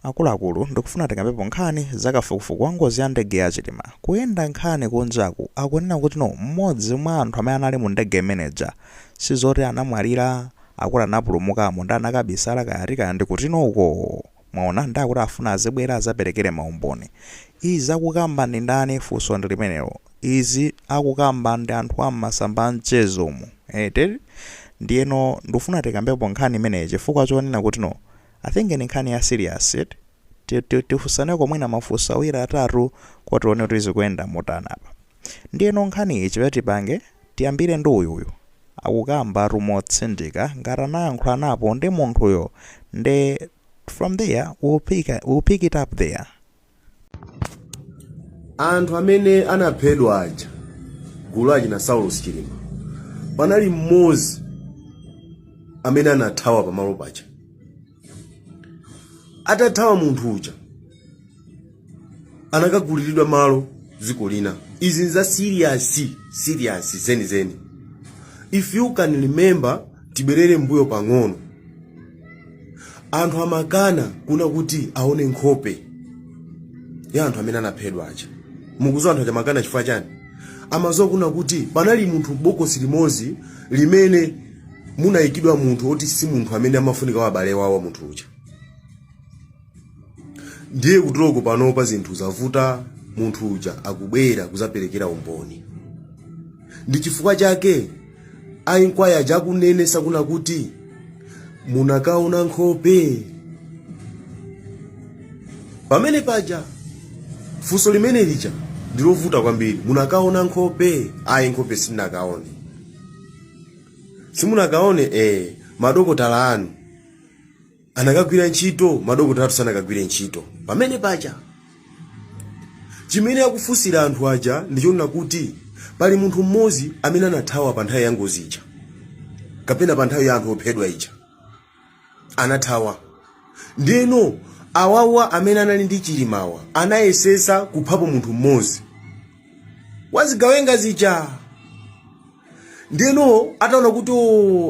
Akuluakulu ndikufuna tikambepo nkhani za kafukufuku wa ngozi ya ndege ya chilima ikuyenda nkhani kunjaku akunena kuti no mmodzi mwa anthu amene anali mu ndege imene ija sizoti anamwalira akuti anapulumukamo nde anakabisala kaya ati kaya ndikuti no uko mwaona nde akuti afuna azibwera azapelekele ma umboni izi akukamba ndi ndani funso ndi limenelo izi akukamba ndi anthu a mmasamba a mchezo mu eti ndiyeno ndufuna tikambepo nkhani imeneyi chifukwa chonena kuti no I think ndi nkhani ya serious eti. Tifunsaneko mwina mafunso awiri atatu kuti tione kuti zikuyenda motani apa. Ndiyeno nkhaniyi chimene tipange tiyambire ndi uyuyu. Akukambatu motsindika ngati anayankhulanapo ndi munthuyo nde from there we'll pick it up there. anthu amene anaphedwa aja gulu achina saulos chilima panali mmodzi amene anathawa pamalo paja atathawa munthu uja anakaguliridwa malo dziko lina izi nza serious serious zenizeni if you can remember tibwerere mbuyo pang'ono anthu amakana kuna kuti aone nkhope ya anthu amene anaphedwa aja mukuziwa anthu aja amakana chifukwa chani amaziwa kuna kuti panali munthu bokosi limodzi limene munayikidwa munthu oti si munthu amene amafunika wa abale wawo munthu uja ndiye kuteroko panopa zinthu zavuta munthu uja akubwera kuzaperekera umboni ndi chifukwa chake a inquiry aja akunenetsa kuna kuti munakaona nkhope pamene paja funso limene lija ndilovuta kwambiri munakaona nkhope ayi nkhope simunakaone simunakaone eh madokotala anu anakagwira ntchito madokotala athu sanakagwire ntchito pamene paja chimene akufunsira anthu aja ndichonena kuti pali munthu mmodzi amene anathawa pa nthawi ya ngozi ija kapena pa nthawi ya anthu ophedwa ija anathawa ndeno awawa amene anali ndi chilimawa anayesesa kuphapo munthu mmodzi wazigawenga zija ndeno ataona kuti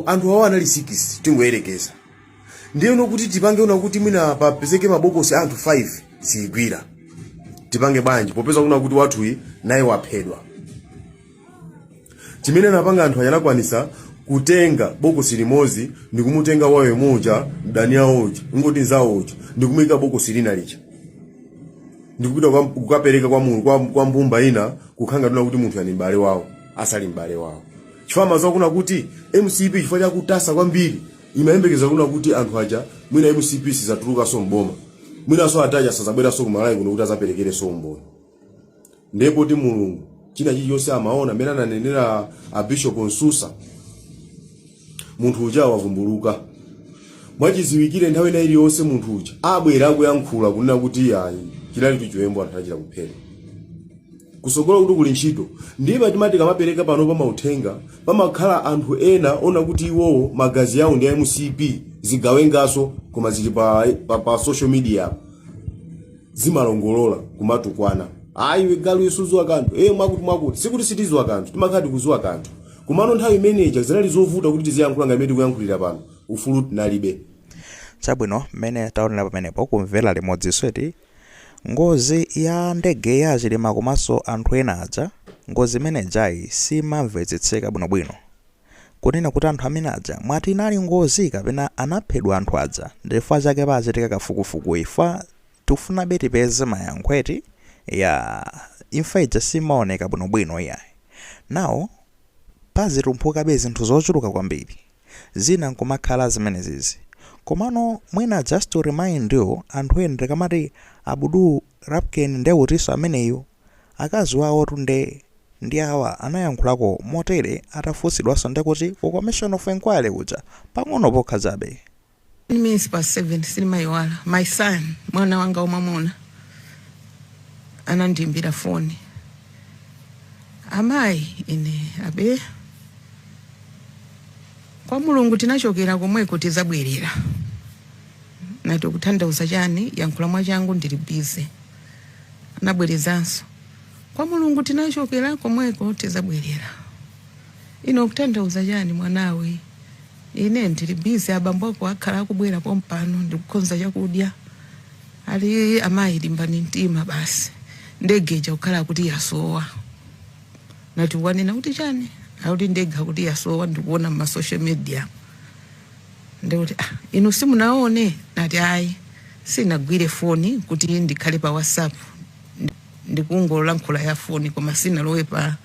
anthu awa anali sikisi tingoyerekeza ndiyeno kuti tipange kuna kuti mwina papezeke mabokosi a anthu 5 siyigwira tipange bwanji popeza kuna kuti wathuyi naye waphedwa chimene anapanga anthu aja anakwanisa kutenga bokosi limodzi ndikumutenga wawo uja mdani awo uja ngoti nzawo uja ndikumuyika bokosi lina lija ndikupita kwa- kukapereka kwa, mu- kwa, kwa mbumba ina kukhala ngati kuna kuti munthu ali m'bale wawo asali m'bale wawo chifukwa amaziwa kuna kuti mcp chifukwa chakutasa kwambiri Imayembekeza kunena kuti anthu aja mwina mcp sizatulukanso m'boma mwinanso atate aja sazabweranso ku Malawi kuno kuti azaperekerenso umboni ndiye poti Mulungu china chilichonse amaona mmene ananenera a Bishop Msusa munthu uja wavumbuluka mwachiziwikire nthawi ina iliyonse munthu uja abwera akuyankhula kunena kuti ayi chinali chiwembu anthu anachita kuphedwa kusogolo kuti kuli ntchito ndiye timati tikamapereka pano pa mauthenga pamakhala anthu ena onena kuti iwowo magazi yawo ndi a mcp zigawengaso koma zili pa, pa, pa social media apo zimalongolola kumatukwana ayi we galu iwe suziwa kanthu e mwakuti mwakuti sikuti sitiziwa kanthu timakhala tikuziwa kanthu komano nthawi imeneja zinali zovuta kuti tiziyankhula nga mmene tikuyankhulira pano ufulu tinalibe chabwino mmene taonera pamenepo tamvera limodzi si eti Ngozi ya ndege ya achilima komanso anthu ena aja, ngozi imene ijayi simamvetsetseka bwinobwino. Kunena kuti anthu amene aja mwati inali ngozi kapena anaphedwa anthu aja ndichifukwa chake pachitika kafukufuku chifukwa tikufunabe tipeze mayankho eti ya imfa ija simaoneka bwinobwino iyayi. Now pazitumphukabe zinthu zochuluka kwambiri. zina nkumakhala zimenezizi. Komano mwina just to remind you anthu ena ndikamati Abdul Lapken nde utinso ameneyu? Akazi wawotu nde ndi awa anayankhulako motere atafunsidwanso ndekuti ku commission of inquiry kuja pang'ono pokha chabe. 10 minutes past 7 silimayiwala my son mwana wanga wamwamuna anandiimbira foni amayi ine abe kwa mulungu tinachokera komweko tizabwerera nati kutanthauza chani yankhula mwachangu ndili busy anabwerezanso kwa mulungu tinachokera komweko tizabwerera ine kutanthauza chani mwanawe Ine ndili busy abambo ako akhala akubwera pompano ndikukonza chakudya. Ali amayi limbani mtima basi. Ndege ija kukhala akuti yasowa. Nati wanena kuti chani? Akuti ndege akuti yasowa ndikuona mma social media. Ndikuti ah inu simunaone? Nati ayi sinagwire foni kuti ndikhale pa WhatsApp. ndikungolankhula ya foni koma sinalowe pa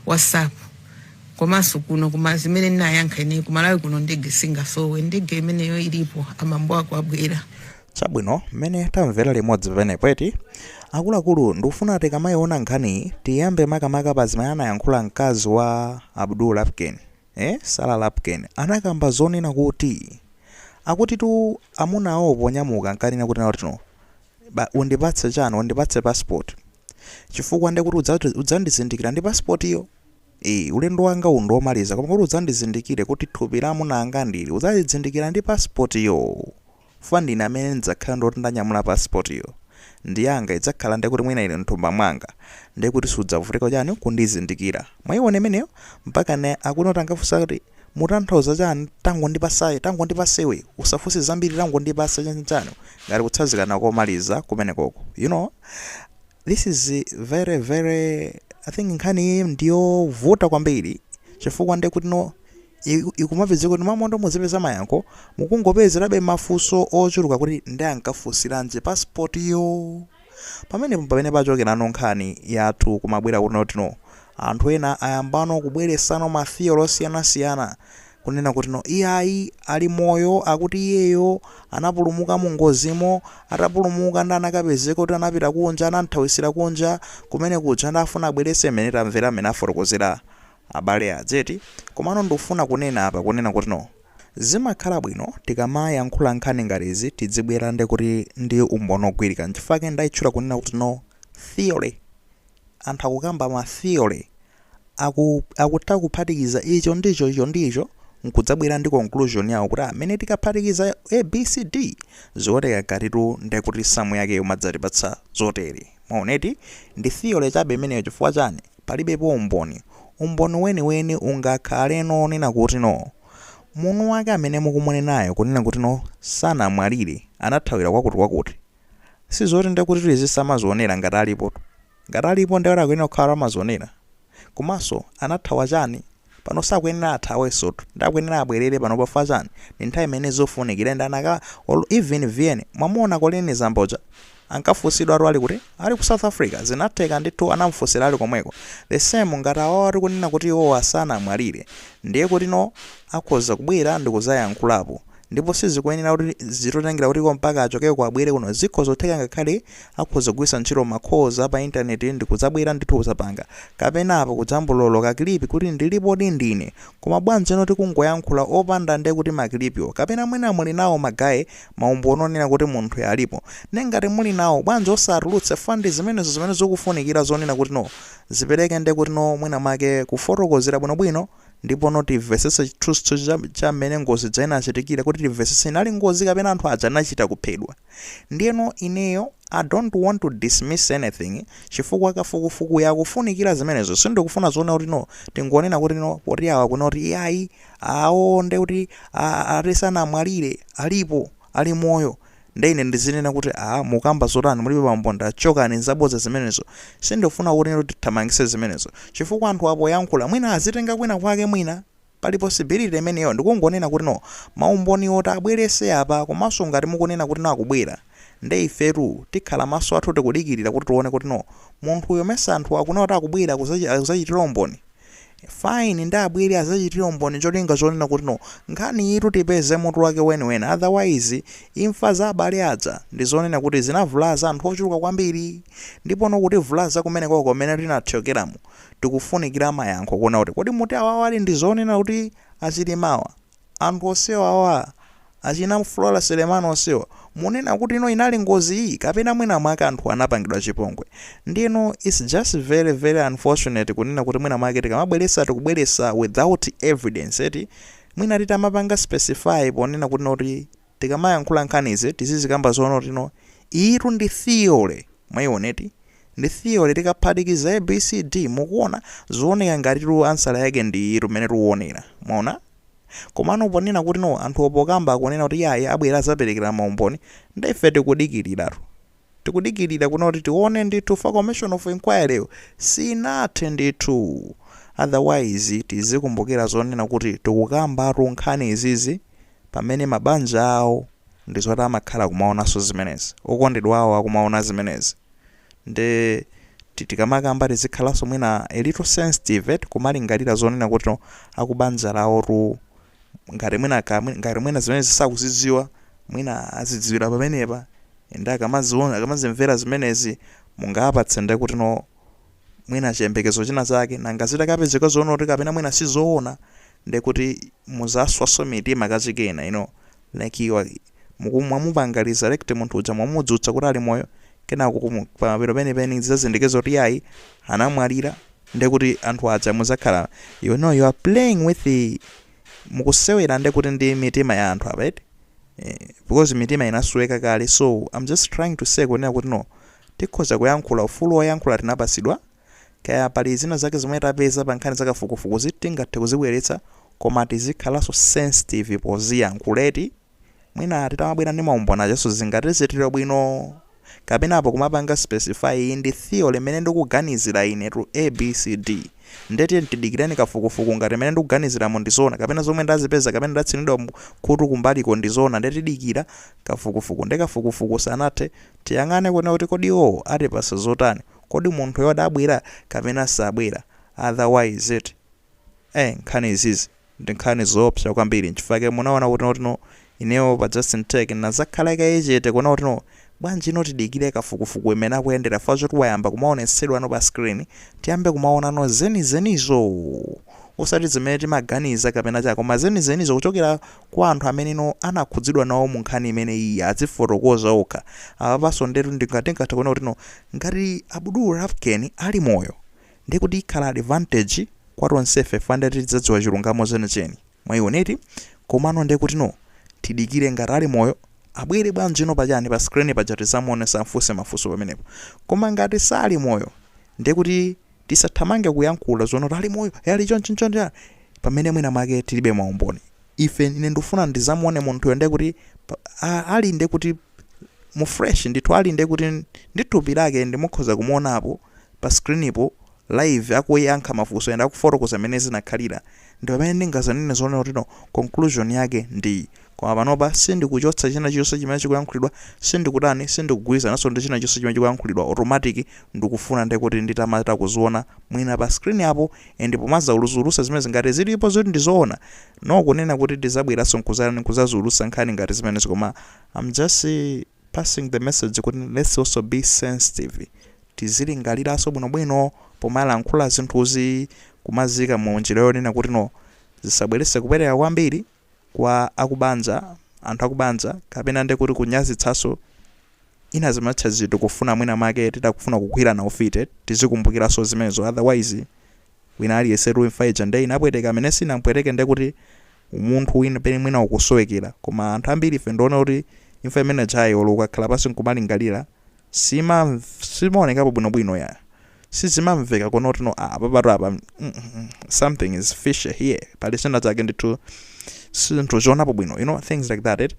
whatsapp komanso kuno koma zimene ndinayankha ine kumalawi kuno ndege singasowe ndege imeneyo ilipo abambo ako abwera chabwino mmene tamvera limodzi pamenepo eti akuluakulu ndikufuna tikamayiona nkhaniyi tiyambe makamaka pa zimene anayankhula mkazi wa abdul lapken Eh? Sarah Lapken anakamba zonena kuti, akutitu amuna awo ponyamuka ankanena kuti naotino, ba, undipatse chani, undipatse passport. Chifukwa nde kuti udzati, udzandizindikira ndi passport yo? Eh, ulendo wanga uwu ndi womaliza koma kuti udzandizindikire kuti thupi la amuna anga ndi ili, udzalizindikira ndi passport yo? Chifukwa ndine amene ndidzakhala ndi woti ndanyamula passport yo ndi yanga idzakhala ndekuti mwina ili mthumba mwanga ndekuti sudzavutika kuchani kundizindikira mwaiona imeneyo mpaka ena akuona kuti angafunse kuti mutanthauza chani tangondipatsa tangondipatsa iwe usafunse zambiri tangondipatsa chani chani ngati kutsazikana komaliza kumenekoko you know this is very very I think nkhani iyi ndiyovuta kwambiri chifukwa ndekuti no i, ikumapezeka kuti m'malo moti muzipeza mayankho mukungopezerabe mafunso ochuluka kuti nde ankafunsiranji passport yo pamenepo pamene pachokerano nkhani yathu kumabwera kuti notino anthu ena ayambano kubweretsano ma theory osiyanasiyana kunena kuti no iyayi ali moyo akuti iyeyo anapulumuka mu ngozimo atapulumuka nde anakapezeka kuti anapita kunja anathawitsira kunja kumene kuja nde afuna abweretse mmene tamvera mmene afotokozera Abale a Dzeti, komano ndufuna kunena apa kunena kuti no. Zimakhala bwino tikamayankhula nkhani ngati izi tidzibwera nde kuti ndi umboni ogwirika nchifukwa chake ndaitchula kunena kuti no theory. Anthu akukamba ma theory aku akutha kuphatikiza icho ndi icho icho ndi icho nkudzabwera ndi conclusion yawo kuti amene tikaphatikiza a b c d zikuoneka ngatitu ndekuti samu yake umadzatipatsa zotere. Mwaona, eti? Ndi theory chabe imeneyo. Chifukwa chani? Palibepo umboni. Umboni weniweni ungakhaleno onena kuti, no, munthu wake amene mukumunenayo kunena kuti, no, sanamwalire, anathawira kwakutikwakuti. Sizoti ndiye kuti tizizamazionera ngati alipotu. Ngati alipo ndiye kuti akuyenera kukhala kuti amazionera. komanso anathawa chani pano sakuyenera athawensotu nde akuyenera abwerere pano chifukwa chani ndi nthawi imene zofunikira and anaka or even mwamuona colleen zamba uja ankafunsidwatu ali kuti ali ku south africa zinatheka ndithu anamufunsira ali komweko the same ngati awawa tikunena kuti iwowa sanamwalire ndiye kuti no akhoza kubwera ndikudzayankhulapo Ndipo sizikuyenera kuti zitotengera kuti iwo mpaka achokeko abwere kuno. Zikhoza kutheka ngakhale akhoza kugwiritsa ntchito ma calls a pa internet ndi kudzabwera ndithu kudzapanga. Kapena apo kujambulako ka clip kuti ndilipodi ndine. Koma bwanjino tikungoyankhula opanda nde kuti ma clip wo. Kapena mwina muli nawo ma guy ma umboni onena kuti munthuyo alipo. Nde ngati muli nawo, bwanji osatulutse chifukwa ndi zimenezo zimene zikufunikira zonena kuti no zipereke nde kuti no mwina mwake kufotokozera bwinobwino. Ndipo no timvesese chithunzithunzi cha, cha mmene ngozi ija inachitikira kuti timvesese inali ngozi kapena anthu aja anachita kuphedwa. Ndiyeno ineyo I don't want to dismiss anything chifukwa kafukufukuyu akufunikira zimenezo. Sindikufuna zonena kuti no tingonena kuti no poti awa kunena kuti iyayi awo nde kuti a- a- ati sanamwalire alipo ali moyo Nde ine ndizinena kuti aah mukukamba zotani mulibe umboni nde chokani nzabodza zimenezo sindikufuna kuti inutu tithamangise zimenezo chifukwa anthuwa poyankhula mwina azitenga kwina kwake mwina Pali possibility imeneyo ndikungonena kuti no maumboniwo atabwelese apa komanso ngati mukunena kuti no akubwera nde ifetu tikhala maso athu tikudikilira kuti tione kuti no munthuyo mesa anthuwa akunena kuti akubwera kuzachitira umboni fine nde abwele azachitile umboni cholinga chonena kuti no nkhaniyitu tipeze mutu wake weniweni otherwise imfa za abale aja ndizonena kuti zinavulaza anthu ochuluka kwambiri ndipo no kutivulaza kumenekoko mene tinathyokelamo tikufunikila mayankho kuona kuti kodi mukuti awawa ali ndizonena kuti a Chilimawa Anthu onsewa wa, achina Flora Selemani onsewa, munena kuti no inali ngozi iyi kapena mwina mwake anthuwa anapangidwa chipongwe? Ndiyeno it's just very, very unfortunate kunena kuti mwina mwake tikamabweretsa tikubweretsa without evidence eti, mwina titamapanga specify ponena kuti no kuti. tikamayankhula nkhani izi tizizikamba zonena kuti no iyitu ndi theory mwaiona eti ndi theory tikaphatikiza A B C D mukuona zooneka ngatitu ansala yake ndi iyitu mmene tuonera mwaona komano ponena kuti no anthuwo pokamba akunena kuti yayi abwera azaperekera maumboni nde ife tikudikiliratu Tikudikilira kuno kuti tione ndithu chifukwa commission of inquiry yo sinathe ndithu. Otherwise tizikumbukira zonena kuti tikukambatu nkhani izizi pamene mabanja awo ndizoti amakhala kumaonanso zimenezi. Okondedwa awo akumaona zimenezi. Nde ti tikamakamba tizikhalanso mwina a little sensitive eti kumalingalira zonena kuti no akubanja lawotu ngati mwina ka mwina- ngati mwina zimenezi sakuzidziwa mwina azidziwira pamenepa ende akamaziona akamazimvera zimenezi mungawapatse nde kuti no mwina chiyembekezo china chake nanga zitakapezeka zoona kuti kapena mwina sizoona nde kuti muzaswaso mitima kachikena you know like you are- muku- mwamupanga resurrect munthu uja mwamudzutsa kuti ali moyo kenako kumu- pamapeto penipeni zizazindikirika kuti yayi anamwalira ndekuti anthu aja muzakhala you know you are playing with the mukusewera ndekuti ndi mitima ya anthu apa eti eh, because mitima inasweka kale so i'm just trying to say kunena kuti no tikhoza kuyankhula ufulu woyankhula tinapasidwa kaya pali zina zake zomwe tapeza pa nkhani zakafukufukuzi tingathe kuzibweretsa koma tizikhalanso sensitive poziyankhula eti mwina titamabwera ndi maumboni ake so zingatichitire ubwino kapena apo kumapanga specify iyi ndi theory imene ndikuganizira ine to abcd nde tiyeni tidikireni kafukufuku ngati imene ndikuganiziramo ndi zoona kapena zomwe ndazipeza kapena ndatsinidwa mu- khutu kumbaliko ndi zoona nde tidikira kafukufuku nde kafukufuku usanathe tiyang'ane kuona kuti kodi iwowo atipasa zotani kodi munthuyo adabwera kapena sabwera otherwise it eh nkhani izizi ndi nkhani zoopsa kwambiri nchifukwa chake munaona kuti no ineyo pa Justin Tech ndinazakhala kaye chete kuona kuti no bwanji ino tidikire kafukufuku imene akuyendera fukwa choti wayamba kumaonetsedwa no pa screen tiyambe kumaona no zenizenizo osati zimene tikuganiza kapena chaka koma zenizenizo kuchokera kwa anthu amene no anakhudzidwa nawo mu nkhani imene iyi azifotokoza okha apapanso ndetu ndi- tingathe kuona kuti no ngati Abdul Rafken ali moyo Ndiye kuti ikhala advantage kwa tonsefe fukwa ndiye kuti tidzadziwa chilungamo chenicheni. Mwaiona eti? Komano ndiye kutino tidikire ngati ali moyo abwere bwanji no pa chani pa screen paja tizamuone azamfunse mafunso pamenepo. Koma ngati sali moyo ndiye kuti tisathamange kuyankhula zonena kuti ali moyo, eh ali chonchi nchoncho pamene mwina mwake tilibe maumboni. ife ine ndikufuna ndidzamuone munthuyo ndiye kuti pa- a- ali ndiye kuti mu flesh ndithu ali ndiye kuti ndi thupi lake ndikukhoza kumuonapo pa screenpo live akuyankha mafunso ende akufotokoza mmene zinakhalira ndi pamene ndingazanene zonena kuti no conclusion yake ndi iyi. koma panopa sindikuchotsa china chonse chimene chikuyankhulidwa sindikutani sindikugwirizananso ndi china chonse chimene chikuyankhulidwa automatic ndikufuna ndiye kuti nditamatha kuziona mwina pa screen apo and pomazaulusa zimenezi ngati zilipo zoti ndizoona no kunena kuti tizabweraso nkuzatani nkuzaziulutsa nkhani ngati zimenezi koma am just passing the message kuti let's also be sensitive tizilingaliraso bwinobwino pomalankhula zinthuzi kumazika mu njira yonena kuti no zisabwerese kupereka kwambiri kwa akubanja anthu akubanja kapena ndi kuti kunyazitsanso ina zimatcha zinthu kufuna mwina mwake titakufuna kugwirana ufiti tizikumbukiranso zimenezo otherwise wina aliyense tu imfa ija nde inapweteka amene sinampweteke nde kuti umunthu wina pena mwina ukusowekera koma anthu ambiri ife ndiona kuti imfa imene ijayo olo ukakhala pansi nkumalingalira sima simaonekapo bwinobwino ya sizimamveka konena kuti no apa patu apa mm, mm, mm, something is fishy here pali china chake ndithu sitikuzionapo bwino you know things like that it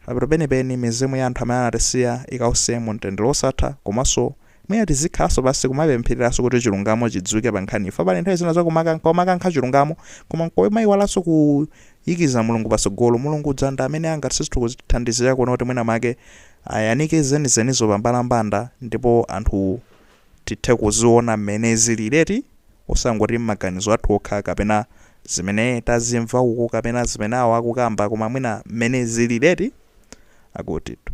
apatu penipeni mizimu ya anthu amene anatisiya ikause mu mtendere wosatha komanso mwina tizikhalanso pansi kumapemphereranso kuti chilungamo chidziwike pa nkhaniyi fukwa pali nthawi zina za kumakankha chilungamo koma nkumayiwalanso kuyikiza mulungu patsogolo mulungu dzanda amene angathe ndithu kutithandizira kuona kuti mwina make ayanike zenizenizo pambalambanda ndipo anthu tithe kuziona mmene zilili eti osangoti mmaganizo athu okha kapena zimene tazimva uko kapena zimene awo akukamba koma mwina mmene zilili eti akutitu.